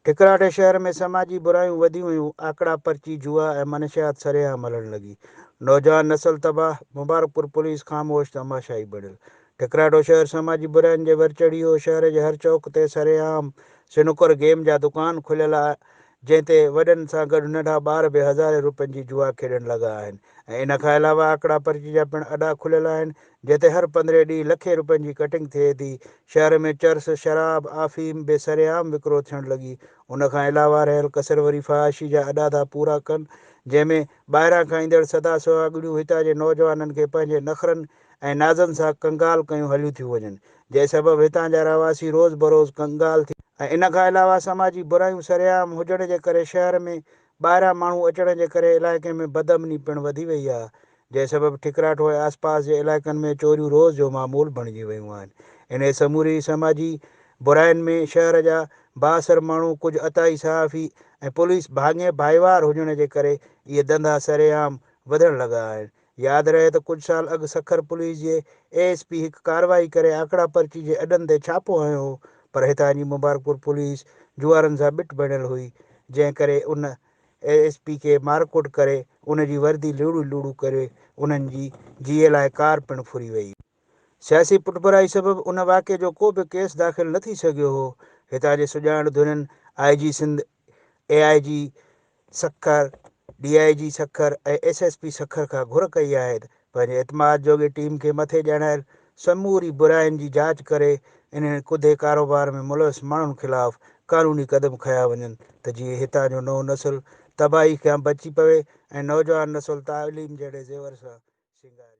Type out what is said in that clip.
ٺڪراٺ شهر ۾ سماجي برايون وڌيون ويون، آڪڙا پرچي، جوا ۽ منشيات سرعام هلڻ لڳي، نوجوان نسل تباهه، مبارڪپور پوليس خاموش تماشائي بڻيل. ٺڪراٺو شهر سماجي براين جي ور چڙهي هو، شهر جي هر چوڪ تي سرعام سنوڪر گيم جا دڪان کليل آ جنهن تي وڏن سان گڏ ننڍا ٻار به هزارين روپين جي جوا کيڏڻ لڳا آهن ۽ ان کان علاوه آڪڙا پرچي جا پڻ اڏا کليل آهن جتي هر پندرهين ڏينهن لکين روپين جي ڪٽنگ ٿئي ٿي، شهر ۾ چرس، شراب، آفيم به سرعام وڪرو ٿيڻ لڳي، ان کان علاوه رهيل ڪسر وري فحاشي جا اڏا ٿا پورا ڪن، جنهن ۾ ٻاهران کان ايندڙ سدا سهاڳڙيون هتان جي نوجوانن کي پنهنجي نخرن ۽ نازن سان ڪنگال ڪيون هليون ٿيون وڃن، جنهن سبب هتان جا رهواسي روز بروز ڪنگال ٿي. ۽ ان کان علاوه سماجي برايون سرعام هجڻ جي ڪري شهر ۾ ٻاهران ماڻهو اچڻ جي ڪري علائقي ۾ بدامني پڻ وڌي وئي آهي، جنهن سبب ٺڪراٺ ۽ آسپاس جي علائقن ۾ چوريون روز جو معمول بڻجي ويون آهن. انهيء سموري سماجي براين ۾ شهر جا بااثر ماڻهو، ڪجهه عطائي صحافي ۽ پوليس ڀاڱي ڀائيوار هجڻ جي ڪري اهي ڌنڌا سرعام وڌڻ لڳا آهن. ياد رهي ته ڪجهه سال اڳ سکر پوليس جي اي ايس پي هڪ ڪارروائي ڪري آڪڙا پرچي جي اڏن تي ڇاپو هنيو هو پر هتان جي مبارڪپور پوليس جوئارن سان ٻٽ بڻيل هئي جنهن ڪري ان اي ايس پي کي مارڪوٽ ڪري ان جي وردي لوڙهي لوڙهي ڪري انهن جي جيئي لاء ڪار پڻ ڦري وئي. سياسي پٺڀرائي سبب ان واقعي جو ڪو به ڪيس داخل نه ٿي سگهيو هو. هتان جي سڄاڻ ڌرين I G Sindh, A I G Sukkur, D I G Sukkur ۽ S S P Sukkur کان گهر ڪئي آهي ته پنهنجي اعتماد جوڳي ٽيم کي مٿي ڄاڻايل سموري براين جي جاچ ڪري انهن ڪڌي ڪاروبار ۾ ملوث ماڻهن خلاف قانوني قدم کنيا وڃن ته جيئن هتان جو نئون نسل تباهي کيان بچي پوي ۽ نوجوان نسل تعليم جهڙي زيور سان سينگارجي.